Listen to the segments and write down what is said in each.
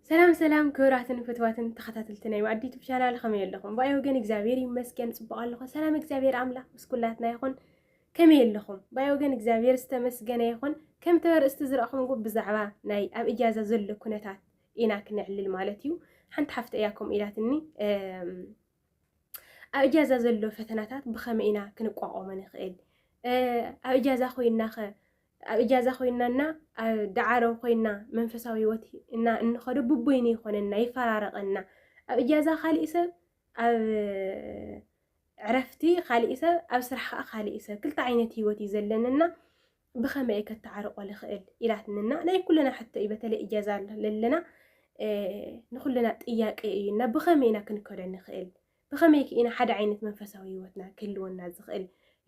ሰላም ሰላም ክብራትን ፍትዋትን ተኸታተልቲ ናይ ማዕዲ ዩቱብ ቻናል ከመይ ኣለኹም? ብኣይ ወገን እግዚኣብሔር ይመስገን ፅቡቕ ኣለኹ። ሰላም እግዚኣብሔር ኣምላኽ ምስ ኩላትና ይኹን። ከመይ ኣለኹም? ብኣይ ወገን እግዚኣብሔር ዝተመስገነ ይኹን። ከምቲ ኣርእስቲ ዝረእኹምዎ ብዛዕባ ናይ ኣብ እጃዛ ዘሎ ኩነታት ኢና ክነዕልል ማለት እዩ። ሓንቲ ሓፍቲ እያ ከምኡ ኢላትኒ ኣብ እጃዛ ዘሎ ፈተናታት ብኸመይ ኢና ክንቋቋሞ ንኽእል? ኣብ እጃዛ ኮይናኸ ኣብ እጃዛ ኮይንና እና ኣብ ዳዓሮ ኮይንና መንፈሳዊ ህይወት እና እንኸዶ ብቦይኒ ይኾነና ይፈራረቐና ኣብ እጃዛ ካሊእ ሰብ ኣብ ዕረፍቲ ካሊእ ሰብ ኣብ ስራሕ ከዓ ካሊእ ሰብ ክልተ ዓይነት ህይወት እዩ ዘለንና ብኸመይ እየ ከተዓርቆ ልኽእል ኢላትንና ናይ ኩልና ሕቶ እዩ በተለይ እጃዛ ለለና ንኩልና ጥያቄ እዩና ብኸመይ ኢና ክንከዶ ንኽእል ብኸመይክ ኢና ሓደ ዓይነት መንፈሳዊ ህይወትና ክህልወና ዝኽእል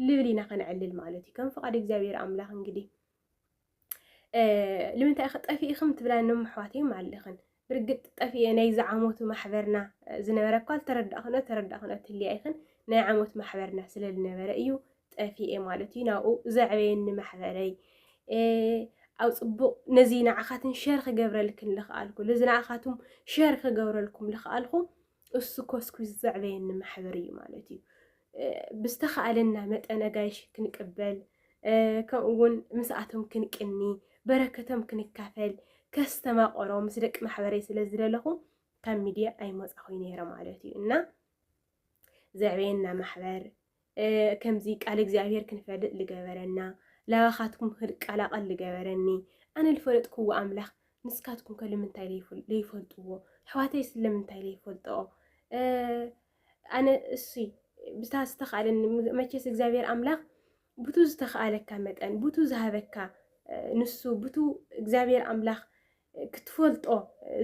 ልብል ኢና ከነዕልል ማለት እዩ ከም ፍቓድ እግዚኣብሔር ኣምላኽ እንግዲህ ልምንታይ ኢኸ ጠፊኢኽም ትብላ ኖም ኣሕዋተይም ኣለኽን ብርግጥ ጠፊኤ ናይ ዝዓመቱ ማሕበርና ዝነበረ እኳ ዝተረዳእኽነ ተረዳእኽነ ትልያ ኢኽን ናይ ዓመት ማሕበርና ስለ ዝነበረ እዩ ጠፊኤ ማለት እዩ ናብኡ ዘዕበየኒ ማሕበረይ ኣብ ፅቡቕ ነዚ ንዓኻትን ሸር ክገብረልክን ልኽኣልኩ እዚ ንዓኻትም ሸር ክገብረልኩም ልኽኣልኹ እሱ ኮስኩስ ዘዕበየኒ ማሕበር እዩ ማለት እዩ። ብዝተኻእለና መጠን ኣጋይሽ ክንቅበል ከምኡ እውን ምስኣቶም ክንቅኒ በረከቶም ክንካፈል ከስተማቆሮ ምስ ደቂ ማሕበረይ ስለ ዝደለኹ ካብ ሚድያ ኣይመፃኹይ ነይረ ማለት እዩ እና ዘዕበየና ማሕበር ከምዚ ቃል እግዚኣብሔር ክንፈልጥ ልገበረና ላባኻትኩም ክቃላቐል ልገበረኒ ኣነ ልፈለጥክዎ ኣምላኽ ንስካትኩም ከ ልምንታይ ለይፈልጥዎ ኣሕዋተይ ስለምንታይ ለይፈልጠኦ ኣነ እሱይ ብታ ዝተኽኣለኒ መቼስ እግዚኣብሔር ኣምላኽ ብቱ ዝተኽኣለካ መጠን ብቱ ዝሃበካ ንሱ ብቱ እግዚኣብሔር ኣምላኽ ክትፈልጦ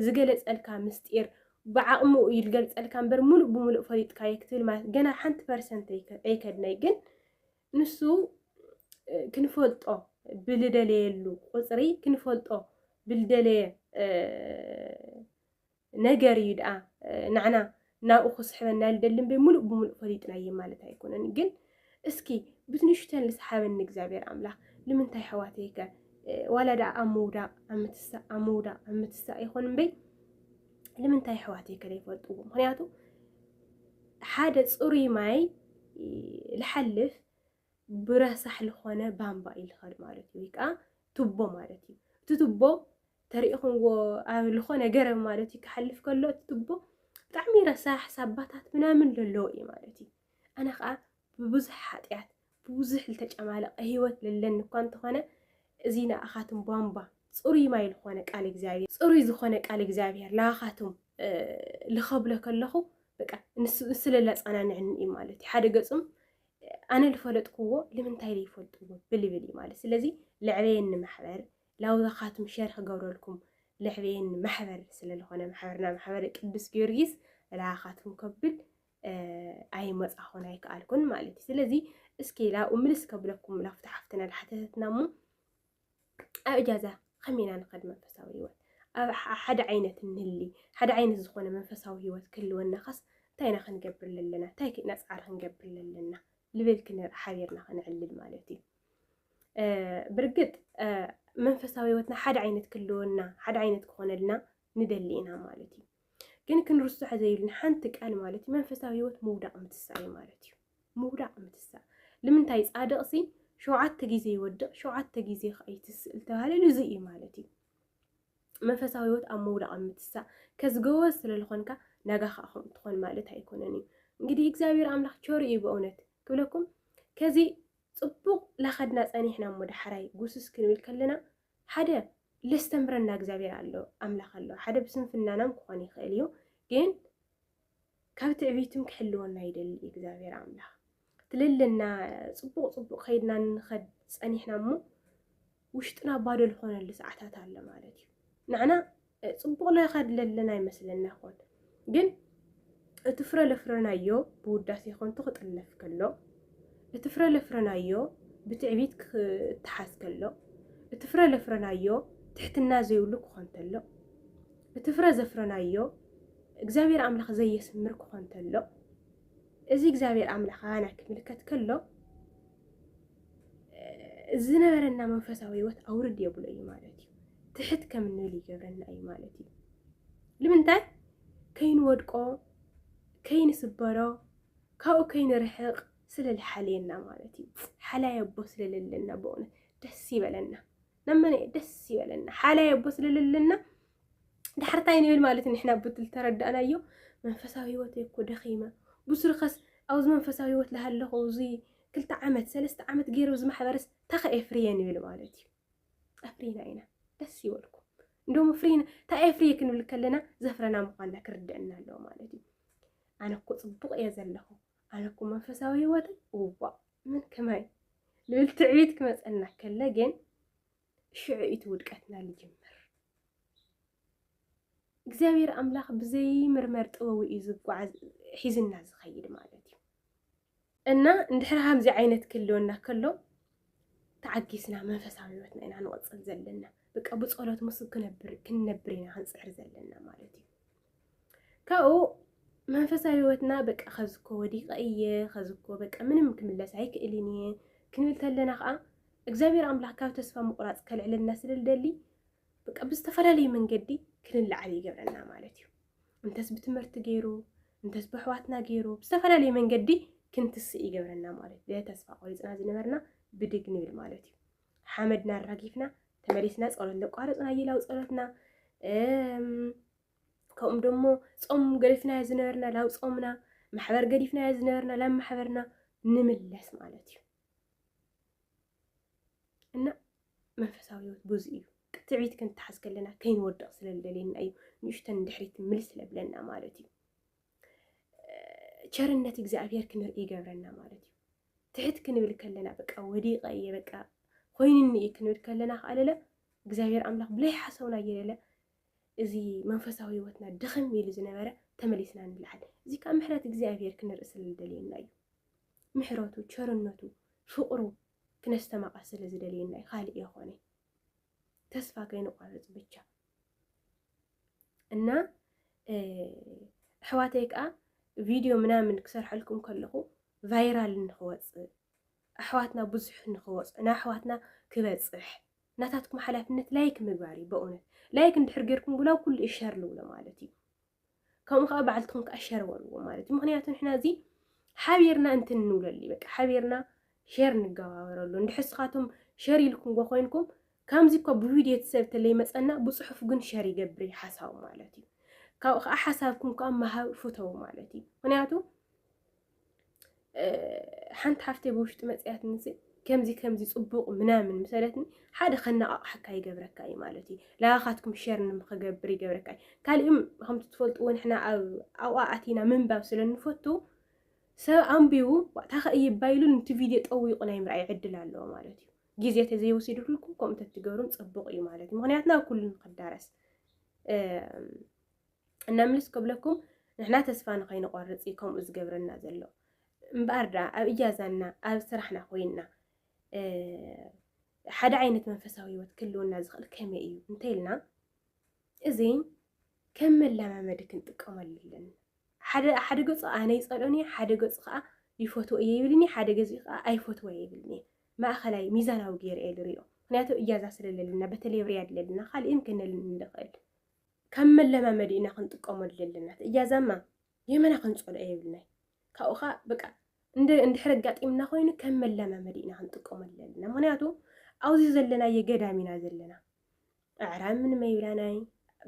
ዝገለጸልካ ምስጢር ብዓቕሙ እዩ ዝገልጸልካ እምበር ሙሉእ ብሙሉእ ፈሊጥካዮ ክትብል ማለት ገና ሓንቲ ፐርሰንት ኣይከድነይ ግን ንሱ ክንፈልጦ ብልደለየሉ ቁፅሪ ክንፈልጦ ብልደለየ ነገር እዩ ድኣ ናዕና ናብኡ ክስሕበና ልደሊ እምበይ ሙሉእ ብሙሉእ ፈሊጥናዮ ማለት ኣይኮነን ግን እስኪ ብትንሽተን ልስሓበኒ እግዚኣብሔር ኣምላኽ ልምንታይ ሕዋተይከ ዋላ ድኣ ኣብ ምውዳቕ ኣብ ምትሳእ ኣብ ምውዳቕ ኣብ ምትሳእ ይኾን እምበይ ልምንታይ ሕዋተይከ ዘይፈልጥዎ ምክንያቱ ሓደ ፅሩይ ማይ ልሓልፍ ብረሳሕ ልኾነ ባምባ እዩ ልኸድ ማለት እዩ። ወይ ከዓ ቱቦ ማለት እዩ። እቲ ቱቦ ተሪኢኹምዎ ኣብ ልኾነ ገረብ ማለት እዩ ክሓልፍ ከሎ እቲ ቱቦ ብጣዕሚ ረሳሕ ሳባታት ምናምን ዘለዎ እዩ ማለት እዩ። ኣነ ከዓ ብብዙሕ ሓጢኣት ብብዙሕ ዝተጨማለቐ ህይወት ለለኒ እኳ እንተኾነ እዚ ንኣኻትም ቧንቧ ፅሩይ ማይ ዝኾነ ቃል እግዚኣብሔር ፅሩይ ዝኾነ ቃል እግዚኣብሔር ንኣኻትም ልኸብሎ ከለኹ በቃ ንስለ ለፃናንዕኒ እዩ ማለት እዩ። ሓደ ገፁም ኣነ ዝፈለጥክዎ ልምንታይ ዘይፈልጥዎ ብልብል እዩ ማለት ስለዚ ልዕበየኒ ማሕበር ላውዛኻትም ሸር ክገብረልኩም ልዕበየኒ ማሕበር ስለዝኾነ ማሕበርና ማሕበር ቅዱስ ጊዮርጊስ ላኻትም ከብል ኣይመፃኹን ኣይከኣልኩን ማለት እዩ ስለዚ እስኪ ላብኡ ምልስ ከብለኩም ላፍታሓፍትና ላሓተተትና እሞ ኣብ እጃዛ ከመይ ኢና ንኸድ መንፈሳዊ ህይወት ኣብ ሓደ ዓይነት እንህሊ ሓደ ዓይነት ዝኾነ መንፈሳዊ ህይወት ክህልወና ኸስ እንታይ ኢና ክንገብር ዘለና እንታይ ኢና ፃዕሪ ክንገብር ዘለና ልብል ክንር ሓቢርና ክንዕልል ማለት እዩ ብርግጥ መንፈሳዊ ህይወትና ሓደ ዓይነት ክህልወና ሓደ ዓይነት ክኾነልና ንደሊ ኢና ማለት እዩ። ግን ክንርስዖ ዘይብልና ሓንቲ ቃል ማለት እዩ መንፈሳዊ ህይወት ምውዳቕ ምትሳእ እዩ ማለት እዩ። ምውዳቕ ምትሳእ ልምንታይ ጻድቕ ሲ ሸውዓተ ግዜ ይወድቕ ሸውዓተ ግዜ ከዓ ይትስእል ተባህለ እዚ እዩ ማለት እዩ። መንፈሳዊ ህይወት ኣብ ምውዳቕ ምትሳእ ከዝገወ ስለዝኾንካ ናጋ ከዓ ከምኡ ትኾን ማለት ኣይኮነን እዩ። እንግዲህ እግዚኣብሔር ኣምላኽ ቸር እዩ በእውነት ክብለኩም ከዚ ጽቡቕ ላኸድና ጸኒሕና እሞ ዳሕራይ ጉስስ ክንብል ከለና ሓደ ለስተምህረና እግዚኣብሔር ኣሎ ኣምላኽ ኣሎ ሓደ ብስንፍናናም ክኾን ይኽእል እዩ ግን ካብ ትዕቢትም ክሕልወና ይደሊ እግዚኣብሔር ኣምላኽ ትልልና ፅቡቕ ፅቡቕ ከይድና ንኸድ ፀኒሕና እሞ ውሽጥና ባዶ ዝኾነሉ ሰዓታት ኣሎ ማለት እዩ ንዕና ፅቡቕ ለኻ ድለለና ይመስለና ይኾን ግን እቲ ፍረ ለፍረናዮ ብውዳሴ ከንቱ ክጥለፍ ከሎ እቲ ፍረ ለፍረናዮ ብትዕቢት ክተሓዝ ከሎ እቲ ፍረ ለፍረናዮ ትሕትና ዘይብሉ ክኾን ተሎ እቲ ፍረ ዘፍረናዮ እግዚኣብሔር ኣምላኽ ዘየስምር ክኾን ተሎ እዚ እግዚኣብሔር ኣምላኽ ኣና ክምልከት ከሎ ዝነበረና መንፈሳዊ ህይወት ኣውርድ የብሎ እዩ ማለት እዩ ትሕት ከም እንብል ይገብረና እዩ ማለት እዩ ንምንታይ ከይንወድቆ ከይንስበሮ ካብኡ ከይንርሕቕ ስለ ዝሓልየና ማለት እዩ ሓላይ ኣቦ ስለለለና በእውነት ደስ ይበለና ነመነ ደስ ይበለና ሓላይ ኣቦ ስለለለና ዳሕርታይ ንብል ማለት ንሕና ብትል ተረዳእናዮ መንፈሳዊ ህይወት እኮ ደኺመ ብስሩኸስ ኣብዚ መንፈሳዊ ህይወት ላሃለኹ እዚ ክልተ ዓመት ሰለስተ ዓመት ገይሩ እዚ ማሕበረስ ታኸ ኤፍርየ ንብል ማለት እዩ ኣፍሪና ኢና ደስ ይበልኩ እንደሞ ፍሪና እታ ኤፍርየ ክንብል ከለና ዘፍረና ምኳንና ክርድአና ኣለዎ ማለት እዩ ኣነ እኮ ፅቡቅ እየ ዘለኹ ኣነ እኮ መንፈሳዊ ህይወተይ እዋእ ምን ከማይ ልብል ትዕቢት ክመፀና ከለ ግን ሽዑ እቲ ውድቀትና ልጅምር እግዚኣብሔር ኣምላኽ ብዘይ ምርመር ጥበቡ እዩ ዝጓዓዝ ሒዝና ዝኸይድ ማለት እዩ እና እንድሕር ከምዚ ዓይነት ክህልወና ከሎ ተዓጊስና መንፈሳዊ ህይወትና ኢና ንቕፅል ዘለና በቃ ብፀሎት ምስ ክነብር ክንነብር ኢና ክንፅዕር ዘለና ማለት እዩ ካብኡ መንፈሳዊ ህይወትና በቃ ከዝኮ ወዲቀ እየ ከዝኮ በቃ ምንም ክምለስ ኣይክእልን እየ ክንብል ተለና ከዓ እግዚኣብሔር ኣምላክ ካብ ተስፋ ምቁራፅ ከልዕለና ስለልደሊ በቃ ብዝተፈላለየ መንገዲ ክንለዓል ይገብረና ማለት እዩ እንተስ ብትምህርቲ ገይሩ እንተስ ብኣሕዋትና ገይሩ ብዝተፈላለየ መንገዲ ክንትስእ ይገብረና ማለት እዩ ተስፋ ቆሪፅና ዝነበርና ብድግ ንብል ማለት እዩ ሓመድና ኣራጊፍና ተመሊስና ፀሎት ዘቋረፅና ይላው ፀሎትና ከምኡ ደሞ ፆም ገዲፍናዮ ዝነበርና ላብ ፆምና ማሕበር ገዲፍናዮ ዝነበርና ላብ ማሕበርና ንምለስ ማለት እዩ እና መንፈሳዊ ህይወት ብዙ እዩ ትዕቢት ክንትሓዝ ከለና ከይንወድቕ ስለ ዝደልየና እዩ ንእሽተን ድሕሪት ምልስ ስለ ብለና ማለት እዩ ቸርነት እግዚኣብሔር ክንርኢ ይገብረና ማለት እዩ ትሕት ክንብል ከለና በቃ ወዲቀ እየ በቃ ኮይንኒ እየ ክንብል ከለና ከኣለለ እግዚኣብሔር ኣምላኽ ብለይ ሓሰውና እየለለ እዚ መንፈሳዊ ህይወትና ድኽም ኢሉ ዝነበረ ተመሊስና ንልዓል። እዚ ከዓ ምሕረት እግዚኣብሔር ክንርኢ ስለ ዝደልየና እዩ። ምሕረቱ፣ ቸርነቱ፣ ፍቕሩ ክነስተማቐር ስለ ዝደልየና እዩ። ካልእ የኾነይ። ተስፋ ከይንቋርፅ ብቻ እና ኣሕዋተይ ከዓ ቪድዮ ምናምን ክሰርሐልኩም ከለኹ ቫይራል ንክወፅእ ኣሕዋትና ብዙሕ ንክወፅ ንኣሕዋትና ክበፅሕ ናታትኩም ሓላፍነት ላይክ ምግባር እዩ በእውነት ላይክ እንድሕር ጌርኩም ብላ ኩሉ እዩ ሸር ልብሎ ማለት እዩ ከምኡ ከዓ በዓልትኹም ከዓ ሸር በልዎ ማለት እዩ ምክንያቱ ንሕና እዚ ሓቢርና እንትን ንብለሉ እዩ በቃ ሓቢርና ሸር ንገባበረሉ እንድሕር ስኻቶም ሸር ኢልኩም ጎ ኮይንኩም ከምዚ እኮ ብቪድዮ ትሰብ ተለይ መፀና ብፅሑፍ ግን ሸር ይገብር እዩ ሓሳቡ ማለት እዩ ካብኡ ከዓ ሓሳብኩም ከዓ መሃብ ፍተው ማለት እዩ ምክንያቱ ሓንቲ ሓፍተይ ብውሽጢ መፅያትኒ ከምዚ ከምዚ ፅቡቕ ምናምን ምሰለትኒ ሓደ ከነቓቕሓካ ይገብረካ እዩ ማለት እዩ ላኻትኩም ሸር ንምክገብር ይገብረካ እዩ ካልእም ከምቲ ትፈልጥዎ ንሕና ኣብ ኣብኣ ኣቲና ምንባብ ስለ ንፈቱ ሰብ ኣንቢቡ ታኸ እይባ ኢሉ ንቲ ቪድዮ ጠዊቑ ናይ ምርኣይ ዕድል ኣለዎ ማለት እዩ ግዜ ተዘይወሲድኩልኩም ከምኡ ተትገብሩም ፅቡቕ እዩ ማለት እዩ ምክንያቱ ናብ ኩሉ ንክዳረስ እነምልስ ክብለኩም ንሕና ተስፋ ንኸይንቆርፅ እዩ ከምኡ ዝገብረና ዘሎ እምበኣር ድኣ ኣብ እጃዛና ኣብ ስራሕና ኮይንና ሓደ ዓይነት መንፈሳዊ ህይወት ክህልወና ዝኽእል ከመይ እዩ እንተይልና እዚ ከም መለማመዲ ክንጥቀመሉ ኣለና። ሓደ ገፁ ኣነ ይፀልኦን እየ፣ ሓደ ገፁ ከዓ ይፈትዎ እየ ይብልኒ፣ ሓደ ገዚ ከዓ ኣይፈትዎ እየ ይብልኒ። ማእኸላይ ሚዛናዊ ገይረ እየ ዝሪኦ። ምክንያቱ እጃዛ ስለለለና በተለይ ኣብ ሪያድ ለለና ካልእን ክንል ንኽእል ከም መለማመዲ ኢና ክንጥቀመሉ ዘለና እያዛማ የመና ክንጸልኦ የብልናይ ካብኡ ከዓ በቃ እንድሕር ኣጋጢምና ኮይኑ ከም መለማመዲ ኢና ክንጥቀመሉ ዘለና ምክንያቱ ኣብዚ ዘለናዮ ገዳም ኢና ዘለና ኣዕራብ ምንም ኣይብላናይ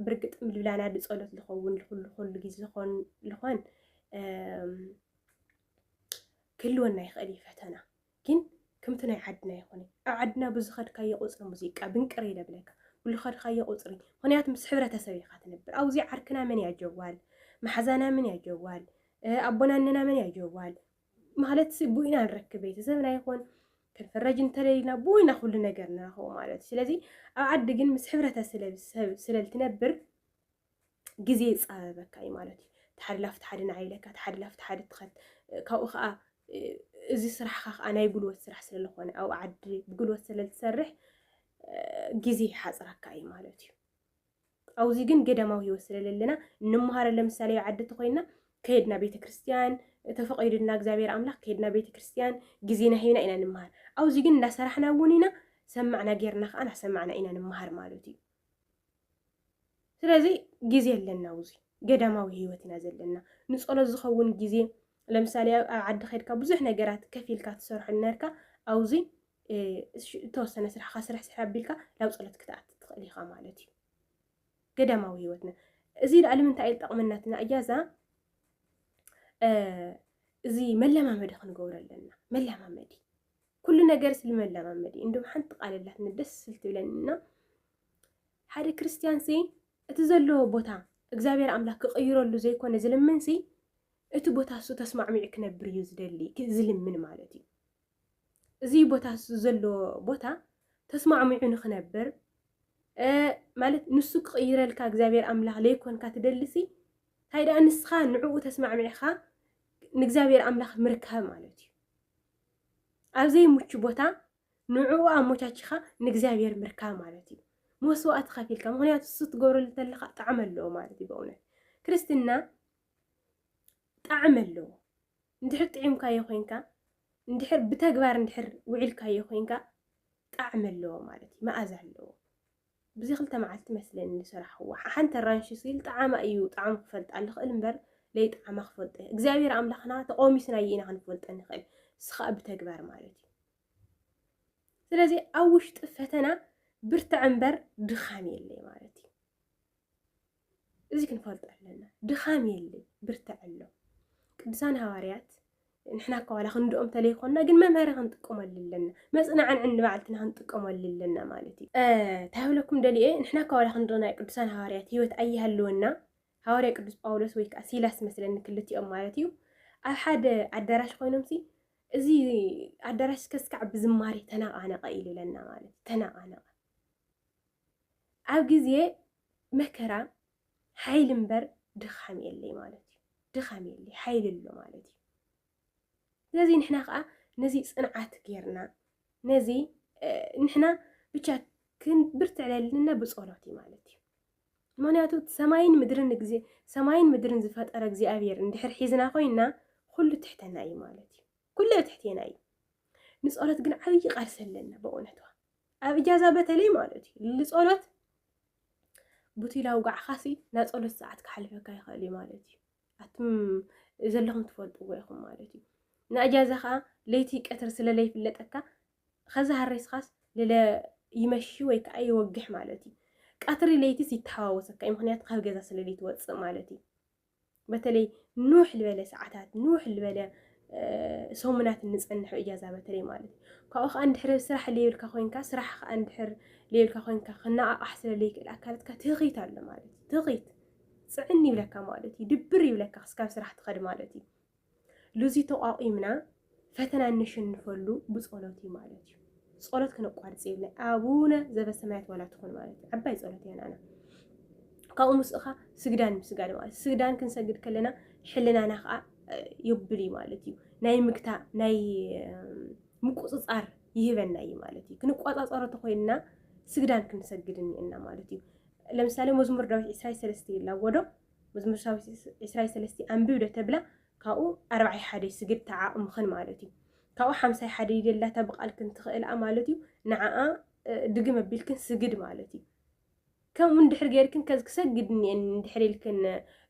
ብርግጥ ምልብላና ድጸሎት ዝኸውን ልኩሉ ኩሉ ግዜ ዝኾን ልኾን ክህልወና ይኽእል እዩ ፈተና ግን ክምቲ ናይ ዓድና ኣይኮነይ ኣብ ዓድና ብዝኸድካዮ ቁጽሪ ሙዚቃ ብንቅር ኢለ ብለካ ብልኸድካዮ ቁጽሪ ምክንያቱ ምስ ሕብረተሰብ ኢኻ ትነብር ኣውዚ ዓርክና መን እያ ጀዋል ማሓዛና መን እያ ጀዋል ኣቦና እነና መን እያ ጀዋል ማለት ቡኢና ንረክብ ቤተሰብና ይኹን ክንፍረጅ እንተለይና ብወይና ኩሉ ነገር ንረኽቦ ማለት እዩ ስለዚ ኣብ ዓዲ ግን ምስ ሕብረተሰብ ስለልትነብር ግዜ ይፃበበካ እዩ ማለት እዩ ተሓዲ ላፍ ተሓዲ ንዓ ኢለካ ተሓዲ ላፍ ተሓዲ ትኸድ ካብኡ ከዓ እዚ ስራሕካ ከዓ ናይ ጉልበት ስራሕ ስለዝኾነ ኣብ ዓዲ ብጉልበት ስለዝሰርሕ ግዜ ይሓፅረካ እዩ ማለት እዩ ኣብዚ ግን ገዳማዊ ህይወት ስለለለና እንመሃረ ለምሳሌ ዓዲ ተኮይና ከየድና ቤተ ክርስትያን ተፈቂድና እግዚኣብሔር ኣምላክ ከየድና ቤተ ክርስትያን ግዜና ሂብና ኢና ንምሃር ኣብዚ ግን እንዳሰራሕና እውን ኢና ሰማዕና ጌርና ከዓ ናሰማዕና ኢና ንምሃር ማለት እዩ ስለዚ ግዜ ኣለና ውዙይ ገዳማዊ ህይወት ኢና ዘለና ንፀሎት ዝኸውን ግዜ ለምሳሌ ኣብ ዓዲ ከድካ ብዙሕ ነገራት ከፍ ኢልካ ትሰርሖ ነርካ ኣብዚ እተወሰነ ስራሕካ ስራሕ ስራሕ ኣቢልካ ናብ ፀሎት ክትኣት ትኽእል ኢኻ ማለት እዩ ገዳማዊ ህይወትና እዚ ዳኣ ንምንታይ እዩ ጠቕመናትና እያ እዛ እዚ መለማመዲ ክንገብሮ ኣለና መለማመዲ ኩሉ ነገርስ ልመለማመድ እዩ እንዶ ሓንቲ ቃል ኣላትና ደስ ስል ትብለኒ እና ሓደ ክርስትያን ሲ እቲ ዘለዎ ቦታ እግዚኣብሔር ኣምላክ ክቕይረሉ ዘይኮነ ዝልምን ሲ እቲ ቦታ እሱ ተስማዕሚዑ ክነብር እዩ ዝደሊ ዝልምን ማለት እዩ እዚ ቦታ እሱ ዘለዎ ቦታ ተስማዕሚዑ ንክነብር ማለት ንሱ ክቕይረልካ እግዚኣብሔር ኣምላክ ዘይኮንካ ትደልሲ እንታይ ደኣ ንስኻ ንዕኡ ተስማዕሚዕኻ ንእግዚኣብሔር ኣምላክ ምርካብ ማለት እዩ ኣብ ዘይምቹ ቦታ ንዕኡ ኣሞቻቺኻ ንእግዚኣብሔር ምርካብ ማለት እዩ። መስዋእቲ ከፊልካ ምክንያቱ እሱ ትገብረሉ ተለካ ጣዕሚ ኣለዎ ማለት እዩ በእውነት ክርስትና ጣዕሚ ኣለዎ እንድሕር ጥዒምካዮ ኮንካ እንድሕር ብተግባር እንድሕር ውዒልካዮ ኮንካ ጣዕሚ ኣለዎ ማለት እዩ መኣዛ ኣለዎ ብዚ ክልተ መዓልቲ መስለኒ ዝሰራሕክዎ ሓንቲ ኣራንሺ ስል ጣዓማ እዩ ጣዕሙ ክፈልጣ ልኽእል እምበር ለይጣዓማ ክፈልጦ እየ እግዚኣብሔር ኣምላኽና ተቆሚስና እየ ኢና ክንፈልጦ ንኽእል ስኻእ ብተግባር ማለት እዩ ስለዚ ኣብ ውሽጢ ፈተና ብርትዕ እምበር ድኻም የለይ ማለት እዩ እዚ ክንፈልጦ ኣለና ድኻም የለ ብርትዕ ኣሎ ቅዱሳን ሃዋርያት ንሕና እኳ ዋላ ክንድኦም ተለይኮና ግን መምሃሪ ክንጥቀመሉ ኣለና መፅናዕንዕን ንባዕልትና ክንጥቀመሉ ኣለና ማለት እዩ እንታይ ብለኩም ደልየ ንሕና እኳ ዋላ ክንዶ ናይ ቅዱሳን ሃዋርያት ሂወት ኣይሃለወና ሃዋርያ ቅዱስ ጳውሎስ ወይ ከዓ ሲላስ መስለኒ ክልቲኦም ማለት እዩ ኣብ ሓደ ኣዳራሽ ኮይኖም ሲ እዚ ኣዳራሽ ከስካዕ ብዝማሬ ተነቃነቀ ኢሉ ኢለና ማለት ተነቃነቀ ኣብ ግዜ መከራ ሓይሊ እምበር ድኻም የለይ ማለት እዩ። ድኻም የለይ ሓይሊ ኣሎ ማለት እዩ። ስለዚ ንሕና ከዓ ነዚ ፅንዓት ጌርና ነዚ ንሕና ብቻ ክንብርትዕ ለልና ብፀሎት እዩ ማለት እዩ። ምክንያቱ ሰማይን ምድርን ግዜ ሰማይን ምድርን ዝፈጠረ እግዚኣብሔር እንድሕር ሒዝና ኮይና ኩሉ ትሕተና እዩ ማለት እዩ። ኩሉ ኣብ ትሕቴና እዩ ንጸሎት ግን ዓብዪ ቃልሲ ኣለና በእውነቷ ኣብ እጃዛ በተለይ ማለት እዩ ልጸሎት ቡቲላ ውጋዕኻሲ ናይ ጸሎት ሰዓት ክሓልፈካ ይኽእል እዩ ማለት እዩ ኣቱም ዘለኹም ትፈልጥዎ ኢኹም ማለት እዩ ንእጃዛ ከዓ ለይቲ ቀትር ስለ ለይፍለጠካ ከዛ ሃሬስኻስ ልለ ይመሺ ወይ ከዓ ይወግሕ ማለት እዩ ቀትሪ ለይትስ ይተሓዋወሰካ እዩ ምክንያቱ ካብ ገዛ ስለ ለይትወፅእ ማለት እዩ በተለይ ንውሕ ዝበለ ሰዓታት ንውሕ ዝበለ ሰሙናት እንፀንሖ እጃዛ በተለይ ማለት እዩ ካብኡ ከዓ እንድሕር ስራሕ ለይብልካ ኮንካ ስራሕ ከዓ እንድሕር ለይብልካ ኮንካ ክነቃቃሕ ስለለይክእል ኣካላትካ ትኺት ኣሎ ማለት እዩ ትኺት ፅዕን ይብለካ ማለት እዩ ድብር ይብለካ ክስካብ ስራሕ ትኸድ ማለት እዩ ሉዚ ተቋቒምና ፈተና እነሸንፈሉ ብጸሎት እዩ ማለት እዩ። ጸሎት ክነቋርጽ የብለ ኣቡነ ዘበሰማያት ዋላ ትኹን ማለት እዩ ዓባይ ጸሎት እያ ናና ካብኡ ምስእኻ ስግዳን ምስጋድ ማለት ስግዳን ክንሰግድ ከለና ሕልናና ከዓ የብል እዩ ማለት እዩ ናይ ምግታ ናይ ምቁፅፃር ይህበና እዩ ማለት እዩ ክንቋፃፀሮ ተኮይንና ስግዳን ክንሰግድ እኒአና ማለት እዩ ለምሳሌ መዝሙር ዳዊት ዕስራይ ሰለስተ ይላጎዶ መዝሙር ሳዊት ዕስራይ ሰለስቲ ኣንብብ ዶ ተብላ ካብኡ ኣርባዓይ ሓደይ ስግድ ተዓቕምኽን ማለት እዩ ካብኡ ሓምሳይ ሓደይ ደላታ ብቃልክን ትኽእልኣ ማለት እዩ ንዓኣ ድግም ኣቢልክን ስግድ ማለት እዩ ከምኡ እንድሕር ጌርክን ከዚ ክሰግድ እኒኤን እንድሕር ኢልክን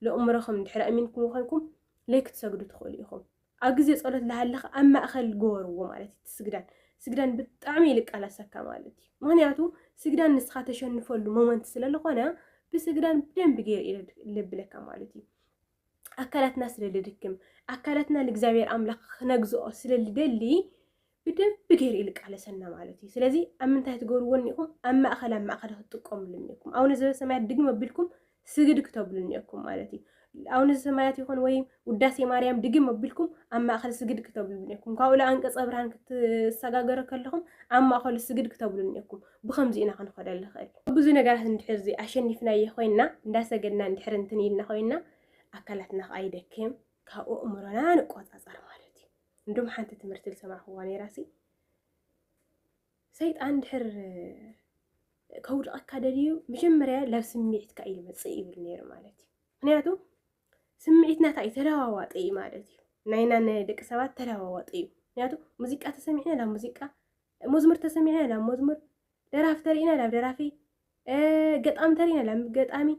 ለእምሮኹም እንድሕር ኣእሚንኩም ኮይንኩም ለይክትሰግዱ ትኽእሉ ኢኹም ኣብ ግዜ ጸሎት ላሃለኻ ኣብ ማእከል ግበርዎ ማለት እዩ እቲ ስግዳን ስግዳን ብጣዕሚ እዩ ልቃለሰካ ማለት እዩ ምክንያቱ ስግዳን ንስኻ ተሸንፈሉ ሞመንት ስለ ልኾነ ብስግዳን ብደንቢ ገይረ እዩ ልብለካ ማለት እዩ ኣካላትና ስለ ልድክም ኣካላትና ንእግዚኣብሔር ኣምላኽ ክነግዝኦ ስለ ልደሊ ብደንቢ ገይሩ እዩ ልቃለሰና ማለት እዩ ስለዚ ኣብ ምንታይ ትገብርዎ እኒኢኹም ኣብ ማእኸል ኣብ ማእኸል ክትጥቀምሉ እኒኢኩም ኣቡነ ዘበሰማያት ድግም ኣቢልኩም ስግድ ክተብሉ እኒኢኩም ማለት እዩ ኣቡነ ዘሰማያት ይኹን ወይ ውዳሴ ማርያም ድግም ኣቢልኩም ኣብ ማእኸል ስግድ ክተብሉ እኒኢኩም ካብኡ ለኣንቀፀ ብርሃን ክትሰጋገረ ከለኹም ኣብ ማእኸሉ ስግድ ክተብሉ እኒኢኩም ብኸምዚ ኢና ክንኸደ ንኽእል ብዙ ነገራት እንድሕር እዚ ኣሸኒፍናዮ ኮይና እንዳሰገድና እንድሕር እንትን ኢልና ኮይና ኣካላትና ከዓ ይደክም ካብኡ እምሮና ንቆፃፀር ማለት እዩ እንዶም ሓንቲ ትምህርቲ ዝሰማዕክዋ ነይራሲ ሰይጣን ድሕር ከውድቐካ ደልዩ መጀመርያ ላብ ስምዒትካ እዩ ዝመፅእ ይብል ነይሩ ማለት እዩ ምክንያቱ ስምዒትና እንታይ እዩ ተለዋዋጢ እዩ ማለት እዩ ናይና ንደቂ ሰባት ተለዋዋጢ እዩ ምክንያቱ ሙዚቃ ተሰሚዕና ናብ ሙዚቃ መዝሙር ተሰሚዕና ናብ መዝሙር ደራፊ ተሪእና ናብ ደራፊ ገጣሚ ተሪእና ናብ ገጣሚ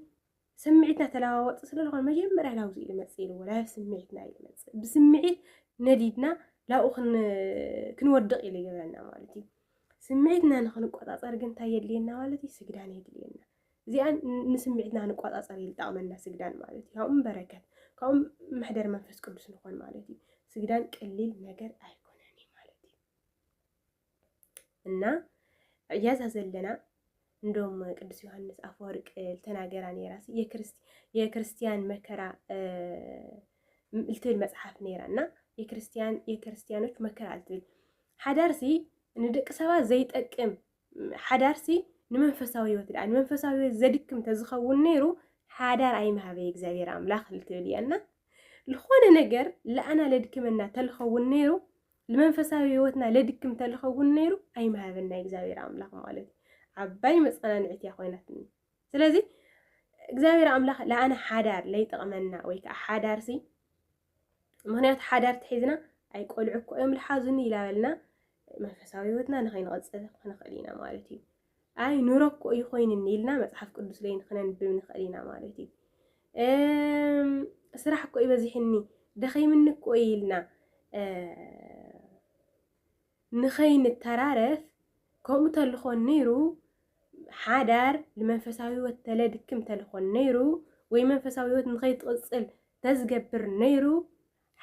ስምዒትና ተለዋወጥ ስለ ዝኾነ መጀመርያ ላብዚ እዩ መፅእ ኢልዎ ላብ ስምዒትና እዩ መፅእ ብስምዒት ነዲድና ላብኡ ክንወድቕ ኢሉ ይገብረና ማለት እዩ ስምዒትና ንክንቆፃፀር ግን እንታይ የድልየና ማለት እዩ ስግዳን የድልየና እዚኣ ንስምዒትና ንቆፃፀር እዩ ዝጠቕመና ስግዳን ማለት እዩ ካብኡ በረከት ካብኡ መሕደር መንፈስ ቅዱስ ንኾን ማለት እዩ ስግዳን ቀሊል ነገር ኣይኮነን እዩ ማለት እዩ እና እያዛ ዘለና እንደውም ቅዱስ ዮሐንስ አፈወርቅ ልተናገራ ነራ የክርስትያን መከራ ልትብል መፅሓፍ ነራ እና የክርስትያኖች መከራ ልትብል ሓዳርሲ ንደቂ ሰባት ዘይጠቅም ሓዳርሲ ንመንፈሳዊ ህይወት ዳኣ ንመንፈሳዊ ህይወት ዘድክም ተዝኸውን ነይሩ ሓዳር ኣይምሃበይ እግዚኣብሔር ኣምላኽ ልትብል እያ እና ዝኾነ ነገር ለኣና ለድክመና ተልኸውን ነይሩ ንመንፈሳዊ ህይወትና ለድክም ተልኸውን ነይሩ ኣይምሃበና እግዚኣብሔር ኣምላኽ ማለት ዓባይ መፀናንዒት እያ ኮይናትኒ ስለዚ እግዚኣብሔር ኣምላኽ ለኣነ ሓዳር ለይጠቕመና ወይ ከዓ ሓዳር ሲ ምክንያቱ ሓዳር ትሒዝና ኣይ ቆልዑ እኮ እዮም ልሓዙኒ ኢላበልና መንፈሳዊ ህይወትና ንኸይንቐፅል ክንኽእል ኢና ማለት እዩ ኣይ ኑሮ እኮ እዩ ኮይንኒ ኢልና መፅሓፍ ቅዱስ ዘይንክነንብብ ንኽእል ኢና ማለት እዩ ስራሕ እኮ እዩ በዚሕኒ ደኸይምኒ እኮ እዩ ኢልና ንኸይንተራረፍ ከምኡ ተልኾን ነይሩ ሓዳር ንመንፈሳዊ ህይወት ተለድክም ተልኾን ነይሩ ወይ መንፈሳዊ ህይወት ንኸይትቕፅል ተዝገብር ነይሩ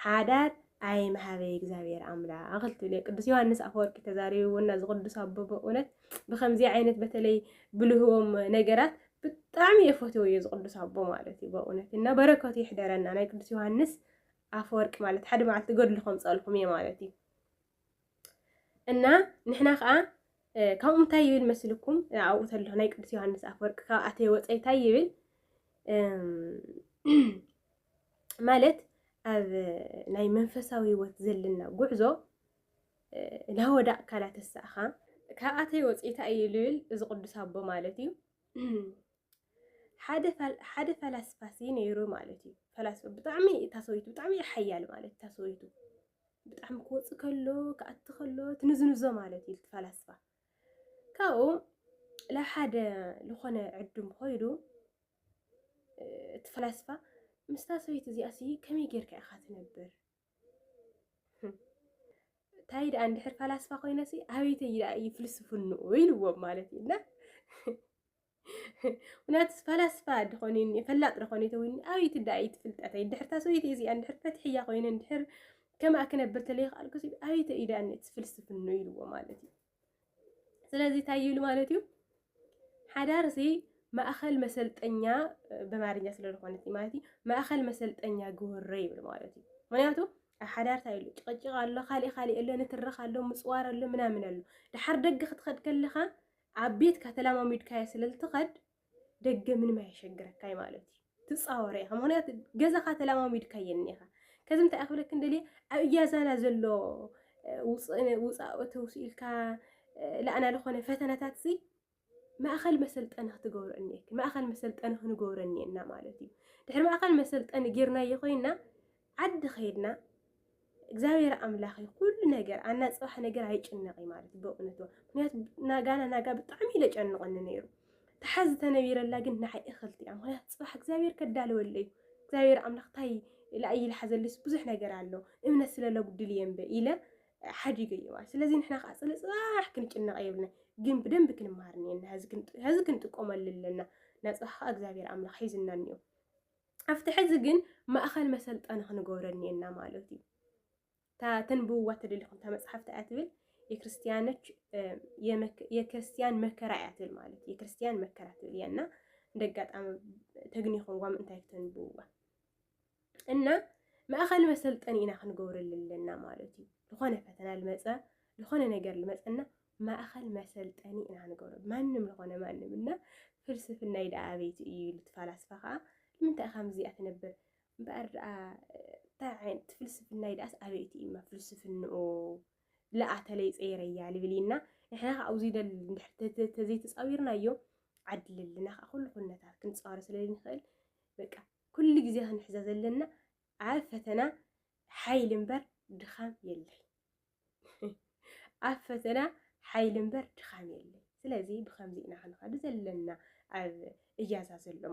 ሓዳር ኣይምሃበይ እግዚኣብሔር ኣምላኽ ክትብል እየ ቅዱስ ዮሃንስ ኣፈወርቂ ተዛሪብዎና እዚ ቅዱስ ኣቦ በእውነት ብከምዚ ዓይነት በተለይ ብልህቦም ነገራት ብጣዕሚ የፈትዎ እዩ ዝቅዱስ ኣቦ ማለት እዩ በእውነት እና በረከቱ ይሕደረና ናይ ቅዱስ ዮሃንስ ኣፈወርቂ ማለት ሓደ መዓልቲ ገድሉ ከምፀልኩም እየ ማለት እዩ እና ንሕና ከዓ ካብኡ እንታይ ይብል መስልኩም ኣብኡ ተሎ ናይ ቅዱስ ዮሃንስ ኣፈወርቂ ካብ ኣተየ ወፀይ እንታይ ይብል ማለት ኣብ ናይ መንፈሳዊ ህይወት ዘለና ጉዕዞ ናወዳእካ ናተሳእኻ ካብ ኣተየ ወፅኢታ እዩ ልብል እዚ ቅዱስ ኣቦ ማለት እዩ ሓደ ፈላስፋሲ ነይሩ ማለት እዩ። ፈላስፋ ብጣዕሚ እታ ሰበይቱ ብጣዕሚ ሓያል ማለት እታ ሰበይቱ ብጣዕሚ ክወፅእ ከሎ ክኣቲ ከሎ ትንዝንዞ ማለት እዩ ፈላስፋ። ካብኡ ናብ ሓደ ዝኾነ ዕዱም ኮይዱ እቲ ፈላስፋ ምስታ ሰበይቲ እዚኣ ሲ ከመይ ጌርካ ኢኻ ትነብር? እንታይ ደኣ እንድሕር ፈላስፋ ኮይነሲ ኣበይተይ ደኣ እዩ ፍልስፍንኡ ኢልዎም ማለት እዩ እና ምክንያቱ ፈላስፋ ድኾን እኒ ፈላጥ ድኾን ይተውኒ ኣብይ ትዳእይ ትፍልጠተይ ድሕር ታሰበይቲ እዚኣን ድሕር ፈትሕያ ኮይነን ድሕር ከምኣ ክነብር ተለይክኣል ክሲ ኣብይ ተኢዳ እኒ ትፍልስፍኖ ኢልዎ ማለት እዩ ስለዚ እንታይ ይብሉ ማለት እዩ ሓዳር እዚ ማእኸል መሰልጠኛ በማርኛ ስለ ዝኾነት ማለት እዩ ማእኸል መሰልጠኛ ግወረ ይብል ማለት እዩ ምክንያቱ ኣብ ሓዳር እንታይ ኢሉ ጭቕጭቕ ኣሎ ካሊእ ካሊእ ኣሎ ንትርኽ ኣሎ ምፅዋር ኣሎ ምናምን ኣሎ ድሓር ደገ ክትኸድ ከለኻ ኣብ ቤትካ ተላማሚድካዮ ስለልትኸድ ደገ ምንም ኣየሸግረካይ ማለት እዩ ትጻወረ ኢኻ ምክንያቱ ገዛኻ ተላማሚድካዮ እኒኻ ከዚ እንታይ ክብለክን ደልየ ኣብ እያዛና ዘሎ ውፃእ ተውስ ኢልካ ላእና ዝኾነ ፈተናታት ሲ ማእኸል መሰልጠኒ ክትገብሮ እኒአክ ማእኸል መሰልጠኒ ክንገብሮ እኒአና ማለት እዩ ድሕሪ ማእኸል መሰልጠኒ ጌርናዮ ኮይና ዓዲ ከይድና እግዚኣብሔር ኣምላኽ እዩ ኩሉ ነገር ኣና ፅባሕ ነገር ኣይጭነቕ እዩ ማለት በእውነቱ ምክንያቱ ናጋና ናጋ ብጣዕሚ ኢለ ጨንቐኒ ነይሩ ተሓዝ ተነቢረላ ግን ንዓይ እኽልቲ እያ ምክንያቱ ፅባሕ እግዚኣብሔር ከዳለወለ እዩ እግዚኣብሔር ኣምላኽ ታይ ላእይ ልሓዘልስ ብዙሕ ነገር ኣሎ እምነት ስለለጉድል እየ እምበ ኢለ ሓዲገ እዩ ማለት ስለዚ ንሕና ከዓ ፅለ ፅባሕ ክንጭነቐ የብልና ግን ብደንብ ክንመሃር እኒአና ህዚ ክንጥቀመሉ ኣለና ናፅባሕ ከዓ እግዚኣብሔር ኣምላኽ ሒዝና እኒኦ ኣብቲ ሕዚ ግን ማእኸል መሰልጠኒ ክንገብሮ እኒኤና ማለት እዩ እታ ተንብብዋ ተደሊኹም እታ መፅሓፍቲ እያ ትብል የክርስቲያኖች የክርስቲያን መከራ እያ ትብል ማለት የክርስቲያን መከራ ትብል እያ እና እንደ ኣጋጣሚ ተግኒኹምዋ ምእንታይ ተንብብዋ እና ማእኸል መሰልጠኒ ኢና ክንገብረሉ ኣለና ማለት እዩ ዝኾነ ፈተና ልመፀ ዝኾነ ነገር ልመፀና ማእኸል መሰልጠኒ ኢና ንገብሮ ማንም ልኾነ ማንም እና ፍልስፍናይ ደኣ ኣበይቲ እዩ ኢሉ እቲ ፋላስፋ ከዓ ንምንታይ ኢኻ ምስዚኣ ትነብር እምበኣር ደኣ እንታይ ዓይነት ፍልስፍናይ ደኣስ ኣበይቲ እዩማ ፍልስፍንኡ ለኣተለይ ፀይረያ ልብልይና ንሕና ከዓ ኣብዚ ደል ተዘይተፃዊርናዮ ዓድልልና ከዓ ኩሉ ኩነታት ክንፃወረ ስለንኽእል በቃ ኩሉ ግዜ ክንሕዘ ዘለና ኣብ ፈተና ሓይሊ እምበር ድኻም የለን። ኣብ ፈተና ሓይሊ እምበር ድኻም የለን። ስለዚ ብከምዚ ኢና ክንኸዱ ዘለና ኣብ እጃዛ ዘሎ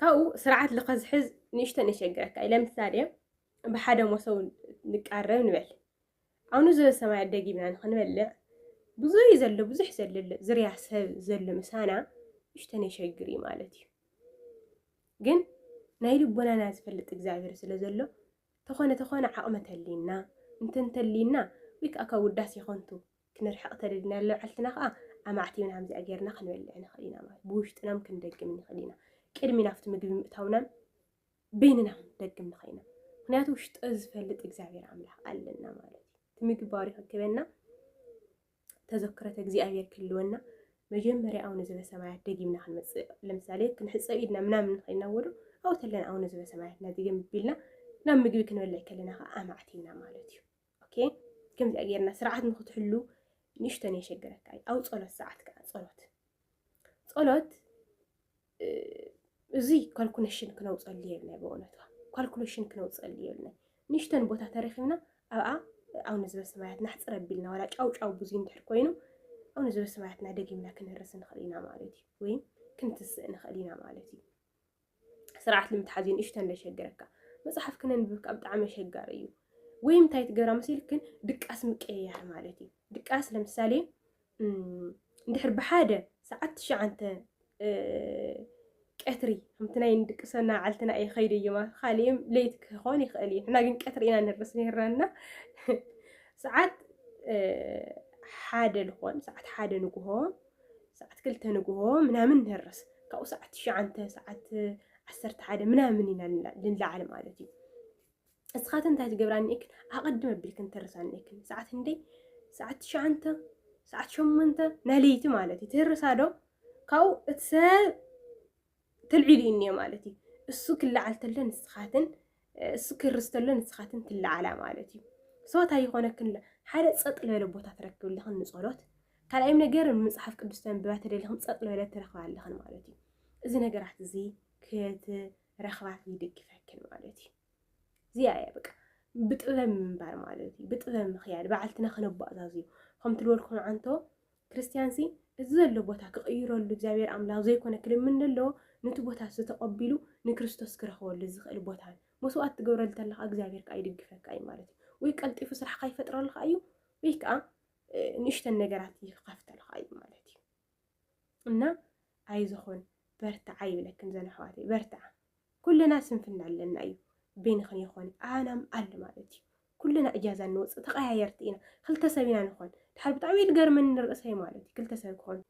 ካብኡ ስርዓት ልኸዝሕዝ ንእሽቶ ነሸግረካ እዩ ለምሳሌ ብሓደ መሶብ ንቃረብ ንበል ኣብኑ ዘበ ሰማይ ኣደጊብና ንክንበልዕ ብዙይ ዘሎ ብዙሕ ዘለ ዝርያ ሰብ ዘሎ ምሳና ንእሽቶ ነሸግር እዩ ማለት እዩ ግን ናይ ልቦናና ዝፈልጥ እግዚኣብሔር ስለ ዘሎ ተኾነ ተኾነ ዓቕሚ ተልዩና፣ እንተ እንተልዩና ወይ ከኣ ካብ ውዳሴ ከንቱ ክንርሕቕ ተደሊና ለባዕልትና ከኣ ኣማዕቲብና ከምዚኣ ጌርና ክንበልዕ ንኽእል ኢና ማለት ብውሽጥናም ክንደግም ንኽእል ኢና። ቅድሚ ናብቲ ምግቢ ምእታውናን በይንና ክንደግም ንኽእል ኢና። ምክንያቱ ውሽጠ ዝፈልጥ እግዚኣብሔር ኣምላኽ ኣለና ማለት እዩ። እቲ ምግቢ ባሪኹ ክበና ተዘክረት እግዚኣብሔር ክህልወና መጀመርያ ኣውነ ዘበሰማያት ደጊምና ክንመፅእ ለምሳሌ ክንሕፀብ ኢድና ምናምን ንኸይና ወዶ ኣብኡ ተለና ኣውነ ዘበሰማያት ናዚገም ቢልና ናብ ምግቢ ክንበልዕ ከለና ከዓ ኣማዕቲና ማለት እዩ ኦኬ ከምዚኣ ጌርና ስርዓት ንክትሕሉ ንእሽተን የሸግረካ እዩ ኣብ ፀሎት ሰዓት ከዓ ፀሎት ፀሎት እዚ ካልኩሌሽን ክነውፀሉ የብልና ብእውነቱ ካልኩሌሽን ክነውፀሉ የብልና ንሽተን ቦታ ተረኪብና ኣብኣ ኣውነ ዝበሰማያት ናሕፅር ኣቢልና ዋላ ጫው ጫው ብዙ እንድሕር ኮይኑ ኣውነ ዝበሰማያትና ደጊምና ክንርስ ንኽእል ኢና ማለት እዩ ወይም ክንትስእ ንኽእል ኢና ማለት እዩ ስርዓት ንምትሓዝ እዩ ንእሽተን ዘሸግረካ መፅሓፍ ክነንብብ ካብ ብጣዕሚ ኣሸጋሪ እዩ ወይም እንታይ ትገብራ መሲልክን ድቃስ ምቀያር ማለት እዩ ድቃስ ለምሳሌ እንድሕር ብሓደ ሰዓት ትሽዓንተ ቀትሪ ከምቲ ናይ ንድቅሰና ዓልትና እየ ከይደ እየማ ካልእም ለይት ክኾን ይኽእል እዩ ንሕና ግን ቀትሪ ኢና ንርስ ነርና ሰዓት ሓደ ልኾን ሰዓት ሓደ ንግሆ ሰዓት ክልተ ንግሆ ምናምን ንርስ ካብኡ ሰዓት ትሽዓንተ ሰዓት ዓሰርተ ሓደ ምናምን ኢና ልንለዓል ማለት እዩ እስኻትን እንታይ ትገብራ እኒኤክን ኣቐድም ኣቢልክን ትህርሳ እኒኤክን ሰዓት ክንደይ ሰዓት ትሽዓንተ ሰዓት ሸሞንተ ናይ ለይቲ ማለት እዩ ትህርሳ ዶ ካብኡ እቲ ሰብ ተልዒሉ እዩ እኒኦ ማለት እዩ እሱ ክለዓል ተሎ ንስኻትን እሱ ክርስ ተሎ ንስኻትን ትለዓላ ማለት እዩ ሰዋት ኣይኾነክን ሓደ ፀጥ ዝበለ ቦታ ትረክብ ኣለኽን ንፀሎት ካልኣይም ነገር መፅሓፍ ቅዱስ ተንብባ ተደሊኽን ፀጥ ዝበለ ትረኽባ ኣለኽን ማለት እዩ እዚ ነገራት እዚ ክትገብራ ረኽባት ይድግፈክን ማለት እዩ እዚኣ እያ በቃ ብጥበብ ምንባር ማለት እዩ ብጥበብ ምክያድ በዓልትና ክነባእዛዝ እዩ ከምቲ ዝበልኩም ዓንቶ ክርስትያን ሲ እዚ ዘሎ ቦታ ክቕይረሉ እግዚኣብሔር ኣምላኽ ዘይኮነ ክልምን ዘለዎ ነቲ ቦታ ዝተቐቢሉ ንክርስቶስ ክረኽበሉ ዝኽእል ቦታ እዩ መስዋእት ትገብረሉ ተለካ እግዚኣብሔር ከዓ ይድግፈካ እዩ ማለት እዩ ወይ ቀልጢፉ ስራሕካ ይፈጥረልካ እዩ ወይ ከዓ ንእሽተን ነገራት ይኸፍተልካ እዩ ማለት እዩ እና ኣይዞኹን በርትዓ ይብለክን ዘን ኣሕዋተይ በርትዓ ኩልና ስንፍና ኣለና እዩ ቤንኽን ይኾን ኣናም ኣል ማለት እዩ ኩልና እጃዛ እንወፅእ ተቀያየርቲ ኢና ክልተ ሰብ ኢና ንኾን ድሓር ብጣዕሚ ትገርመኒ ንርእሰይ ማለት እዩ ክልተ ሰብ ክኾን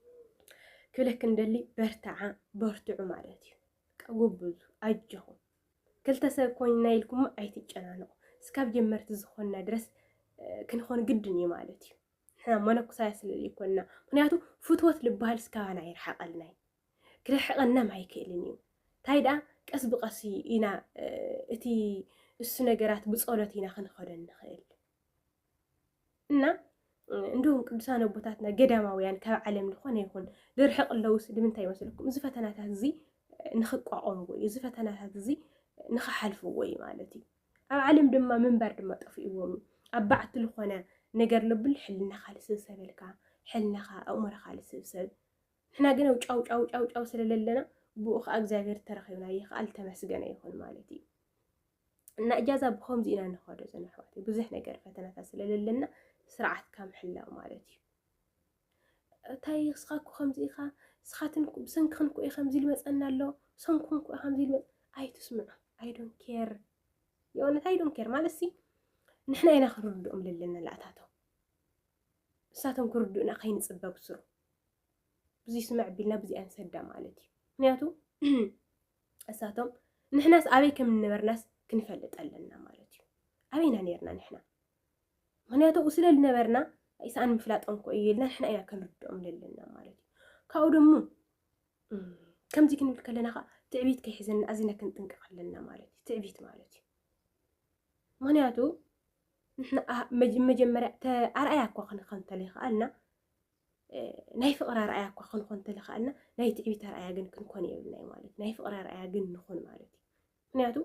ክብለክ እንደሊ በርትዓ በርትዑ ማለት እዩ ቀጉብዙ ኣጆኹም ክልተ ሰብ ኮይንና ኢልኩም ኣይትጨናነቑ እስካብ ጀመርቲ ዝኾንና ድረስ ክንኾን ግድን እዩ ማለት እዩ ንሕና መነኩሳያ ስለ ዘይኮንና ምክንያቱ ፍትወት ልበሃል ስካባና ይርሓቐልና እዩ ክርሕቐናም ኣይክእልን እዩ እንታይ ደኣ ቀስ ብቐስ ኢና እቲ እሱ ነገራት ብጸሎት ኢና ክንኸዶ ንኽእል እና እንዲሁም ቅዱሳን ኣቦታትና ገዳማውያን ካብ ዓለም ዝኾነ ይኹን ዝርሕቕ ኣለውስ ንምንታይ ይመስለኩም? እዚ ፈተናታት እዚ ንኽቋቖምዎ እዩ፣ እዚ ፈተናታት እዚ ንኽሓልፍዎ እዩ ማለት እዩ። ኣብ ዓለም ድማ ምንባር ድማ ጠፊእዎም እዩ ኣብ ባዕቲ ልኾነ ነገር ለብል ሕልናኻ ልስብሰበልካ ሕልናኻ ኣእምሮኻ ልስብሰብ ንሕና ግን ኣብ ጫው ጫው ጫው ጫው ስለ ለለና ብኡ ከዓ እግዚኣብሔር ተረኺብና ይኽኣል ተመስገነ ይኹን ማለት እዩ እና እጃዛ ብኸምዚ ኢና ንኸዶ ዘንሕዋት ብዙሕ ነገር ፈተናታት ስለለለና ስርዓትካ ምሕላው ማለት እዩ እታይ እስኻ እኮ ከምዚ ኢኻ እስኻትን እኮ ብሰንክኽን እኮ እዩ ከምዚ ልመፀና ኣሎ ሰንኩም እኮ ከምዚ ልመፅ ኣይትስምዑ ኣይ ዶንት ኬር የእውነት ኣይ ዶንት ኬር ማለት ሲ ንሕና ኢና ክንርድኦም ዘለና ላእታቶም ንሳቶም ክርድኡና ከይንፅበ ብስሩ ብዙ ስምዕ ቢልና ብዙ ኣንሰዳ ማለት እዩ ምክንያቱ እሳቶም ንሕናስ ኣበይ ከም ንነበርናስ ክንፈልጥ ኣለና ማለት እዩ ኣበይና ነርና ንሕና ምክንያቱ ኣብኡ ስለ ዝነበርና ኢሳኣን ምፍላጦም እኮ እዩ ኢልና ንሕና ኢና ክንርድኦም ዘለና ማለት እዩ ካብኡ ደሞ ከምዚ ክንብል ከለና ከዓ ትዕቢት ከይሕዘና ኣዚና ክንጥንቀቕ ኣለና ማለት እዩ ትዕቢት ማለት እዩ ምክንያቱ ንሕና መጀመርያ ኣርኣያ እኳ ክንኾን ተለይከኣልና ናይ ፍቕሪ ኣርኣያ እኳ ክንኾን ተለይከኣልና ናይ ትዕቢት ኣርኣያ ግን ክንኮን የብልና ማለት ናይ ፍቕሪ ኣርኣያ ግን ንኹን ማለት እዩ ምክንያቱ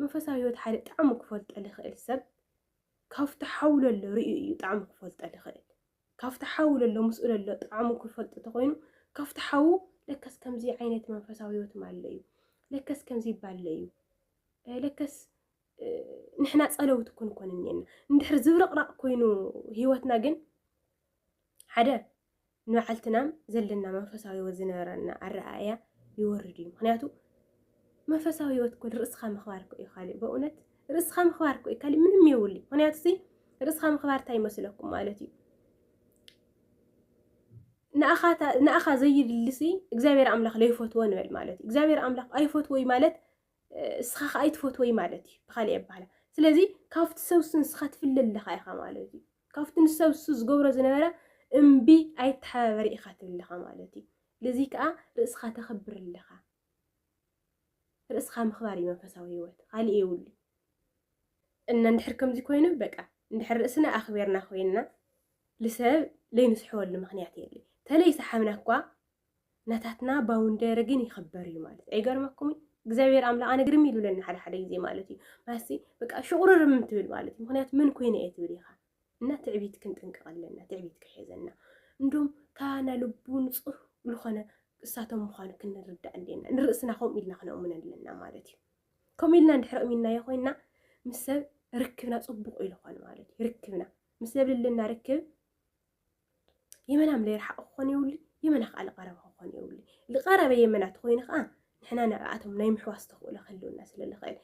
መንፈሳዊ ህይወት ሓደ ጣዕሙ ክፈልጦ ዝኽእል ሰብ ካብቲ ሓው ለሎ ርእዩ እዩ ጣዕሙ ክፈልጦ ዝኽእል። ካብቲ ሓው ለሎ ምስኡ ለሎ ጣዕሙ ክፈልጦ ተኾይኑ ካብቲ ሓው ለከስ ከምዚ ዓይነት መንፈሳዊ ህይወት ኣሎ እዩ፣ ለከስ ከምዚ ይባል እዩ፣ ለከስ ንሕና ጸለውቲ ኮንኮን እኒና እንድሕር ዝብርቕራቕ ኮይኑ ህይወትና ግን ሓደ ንባዕልትናም ዘለና መንፈሳዊ ህይወት ዝነበረና ኣረኣእያ ይወርድ እዩ ምክንያቱ መንፈሳዊ ህይወት እኮ ርእስኻ ምኽባር እኮ እዩ ካሊእ በእውነት ርእስኻ ምኽባር እኮ እዩ ካሊእ ምንም የብሉ ምክንያቱ እዚ ርእስኻ ምኽባር እንታይ ይመስለኩም ማለት እዩ ንኣኻ ዘዩድልሲ እግዚኣብሔር ኣምላኽ ለይፈትዎ ንበል ማለት እዩ እግዚኣብሔር ኣምላኽ ኣይፈትዎ ማለት እስኻ ከኣ ኣይትፈትወይ ማለት እዩ ብኻሊእ ኣባህላ ስለዚ ካብቲ ሰብሱ ንስኻ ትፍለ ኣለኻ ኢኻ ማለት እዩ ካብቲ ንሰብሱ ዝገብሮ ዝነበረ እምቢ ኣይተሓባበሪ ኢኻ ትብል ኣለኻ ማለት እዩ ልዚ ከኣ ርእስኻ ተኽብር ኣለኻ ርእስኻ ምኽባር እዩ መንፈሳዊ ህይወት ካልእ የብሉ እና እንድሕር ከምዚ ኮይኑ በቃ እንድሕር ርእስና ኣኽቢርና ኮይንና ልሰብ ለይንስሕወሉ ምክንያት የለ ተለይ ሰሓብና እኳ ናታትና ባውንደሪ ግን ይኽበር እዩ ማለት ኣይገርመኩምን? እግዚኣብሔር ኣምላኽ ኣነ ግርም ይብለኒ ሓደ ሓደ ግዜ ማለት እዩ ማሲ በቃ ሽቑርርም ትብል ማለት እዩ ምክንያቱ ምን ኮይነ እየ ትብል ኢኻ እና ትዕቢት ክንጥንቀቕ ኣለና ትዕቢት ክሕዘና እንዶም ካና ልቡ ንፁህ ዝኾነ እሳቶም ምዃኑ ክንርዳእ ኣለና ንርእስና ከምኡ ኢልና ክነእምነ ኣለና ማለት እዩ ከምኡ ኢልና እንድሕሪ እሚናዮ ኮይና ምስ ሰብ ርክብና ፅቡቕ ኢሉ ኾን ማለት እዩ ርክብና ምስ ሰብ ልልና ርክብ የመና ምለ ይርሓቕ ክኾን የብሉ የመና ከዓ ልቐረበ ክኾን የብሉ ልቐረበ የመና ተኮይኑ ከዓ ንሕና ንዕኣቶም ናይ ምሕዋስ ተኽእሎ ክህልወና ስለ ልኽእል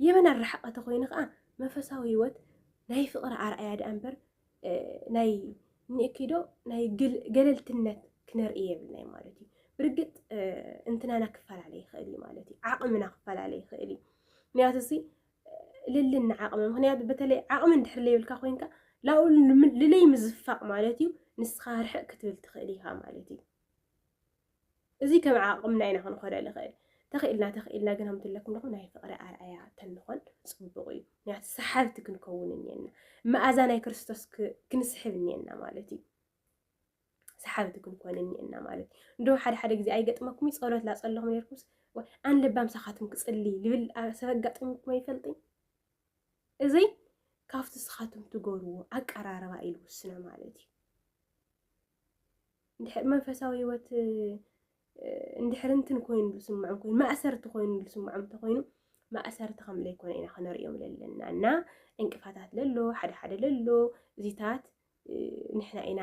የመና ርሓቐ ተኮይኑ ከዓ መንፈሳዊ ህይወት ናይ ፍቕሪ ኣርኣያ ድኣ እምበር ናይ ንእኪዶ ናይ ገለልትነት ክነርኢ የብልናይ ማለት እዩ ብርግጥ እንትናና ክፈላለ ይኽእል እዩ ማለት እዩ ዓቕምና ክፈላለ ይኽእል እዩ ምክንያቱ እዚ ልልና ዓቕሚ ምክንያቱ በተለይ ዓቕሚ እንድሕር ለይብልካ ኮይንካ ላብኡ ልለይ ምዝፋቕ ማለት እዩ ንስኻ ርሕቕ ክትብል ትኽእል ኢኻ ማለት እዩ እዚ ከም ዓቕምና ኢና ክንኾደ ንኽእል ተኽኢልና ተኽኢልና ግን ኣምትለኩም ደኹ ናይ ፍቕሪ ኣርኣያ ተንኾን ፅቡቕ እዩ ምክንያቱ ሰሓብቲ ክንከውን እኒአና መኣዛ ናይ ክርስቶስ ክንስሕብ እኒአና ማለት እዩ ሰሓብቲ ክንኮን እኒኤና ማለት እንዶ ሓደ ሓደ ግዜ ኣይገጥመኩም ጸሎት ላጸለኹም ነርኩስ ኣን ለባም ሳኻትኩም ክጽሊ ልብል ሰብ ኣጋጥምኩም ኣይፈልጥኝ እዚ ካብቲ ስኻትኩም ትገብርዎ ኣቀራርባ እዩ ልውስነ ማለት እዩ እንድሕር መንፈሳዊ ህይወት እንድሕር እንትን ኮይኑ ዝስምዖም ኮይኑ ማእሰርቲ ኮይኑ ዝስምዖም እንተኮይኑ ማእሰርቲ ከም ዘይኮነ ኢና ክንሪኦም ዘለና እና እንቅፋታት ለሎ ሓደ ሓደ ለሎ እዚታት ንሕና ኢና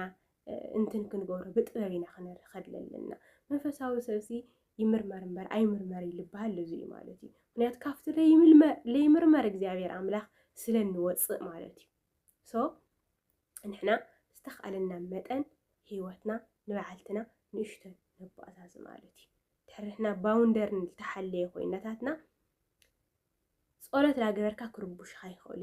እንትን ክንገብሮ ብጥበብ ኢና ክንርኸድ ለለና መንፈሳዊ ሰብሲ ይምርመር እምበር ኣይምርመር ይልበሃል እዚ እዩ ማለት እዩ ምክንያቱ ካብቲ ለይምርመር እግዚኣብሔር ኣምላኽ ስለ እንወፅእ ማለት እዩ ሶ ንሕና ዝተኽኣለና መጠን ህይወትና ንበዓልትና ንእሽተን ነባእዛዝ ማለት እዩ ድሕርሕና ባውንደር ዝተሓለየ ኮይነታትና ጸሎት ላገበርካ ክርቡሽኻ ይኽእሉ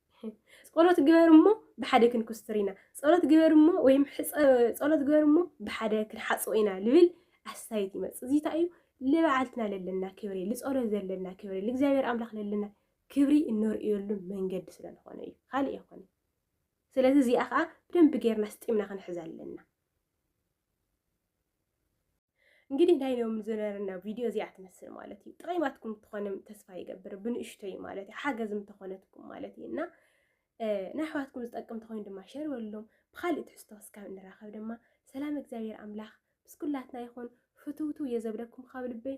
ጸሎት ግበር እሞ ብሓደ ክንኩስትር ኢና፣ ጸሎት ግበር እሞ ወይም ጸሎት ግበር እሞ ብሓደ ክንሓጽቦ ኢና ልብል ኣስታይት ይመጽእ። እዚ እንታይ እዩ? ልበዓልትና ለለና ክብሪ፣ ልጸሎት ዘለና ክብሪ፣ ልእግዚኣብሔር ኣምላኽ ለለና ክብሪ እነርእየሉ መንገዲ ስለ ዝኾነ እዩ፣ ካልእ ኣይኮነን። ስለዚ እዚኣ ከዓ ብደንቢ ጌርና ስጢምና ክንሕዛ ኣለና። እንግዲህ ናይ ሎም ዝነበረና ቪድዮ እዚኣ ትመስል ማለት እዩ። ጥቐይማትኩም ትኾንም ተስፋ ይገብር ብንእሽቶይ ማለት እዩ ሓገዝም ተኾነትኩም ማለት እዩ እና ናይ ኣሕዋትኩም ዝጠቅም ተኾይኑ ድማ ሸር በሉሎም። ብካሊእ ትሕዝቶ እስካብ እንራኸብ ድማ ሰላም እግዚኣብሔር ኣምላኽ ምስ ኩላትና ይኹን። ፍትውትው የዘብለኩም ካብ ልበይ